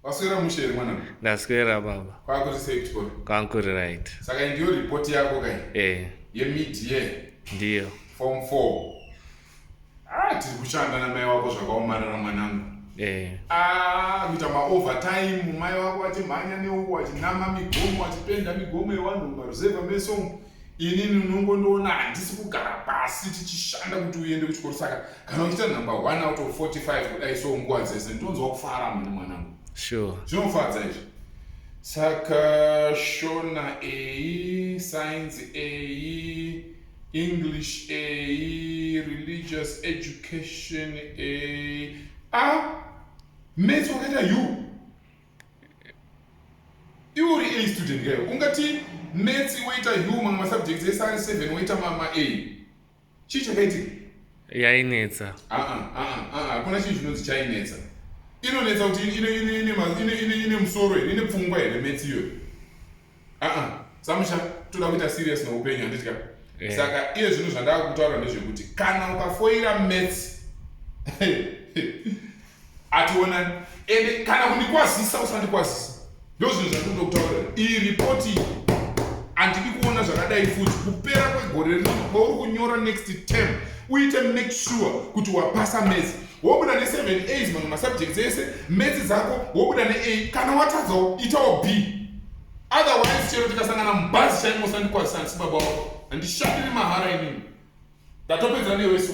Waswera mushe here mwana? Ndaswera baba. Kwakuri sei kuchikoro? Kwakuri right. Saka ndiyo report yako kai? Eh. Ye mid year. Ndiyo. Form 4. Ah, tiri kushanda na mai wako zvakaomarara mwanangu. Eh. Ah, kuita ma overtime mai wako achimhanya neuko achinama migomo achipenda migomo yewanhu maruzeva meso. inini unongondiona handisi kugara pasi tichishanda kuti uende kuchikoro saka kana uchiita number one out of 45 kudai so nguva dzese ndonzwa kufara mune mwanangu sure zvinofadza izvi saka shona ei science ei english ei religious education ei a ah, mets wakaita you iwe uri a student kayo ungati metsi woita humor masubjects ese ari seven woita mama a chii chakaitika yainetsa ah, ah, ah, hakuna chii chinonzi chainetsa inonetsa kuti ine musoro here ine pfungwa here metsi iyoyo aa samusha toda kuita serious noupenyu handitya eh. saka iye zvinhu zvandava kutaura ndezvekuti kana ukafoira mats ationa ende kana kundikwazisa usandikwazisa ndo zvinhu zvandikundokutaura iyi ripoti iyi handidi kuona zvakadai futi kupera kwegore rino kwauri kunyora next term uite make sure kuti wapasa mats wobuda ne 7 a mamwe masubjects ese metsi dzako wobuda ne a kana watadzawo itawo b otherwise chero tikasangana mubhazi chaimosandikwazisansi baba wako handishandiri mahara inini ndatopedza newesu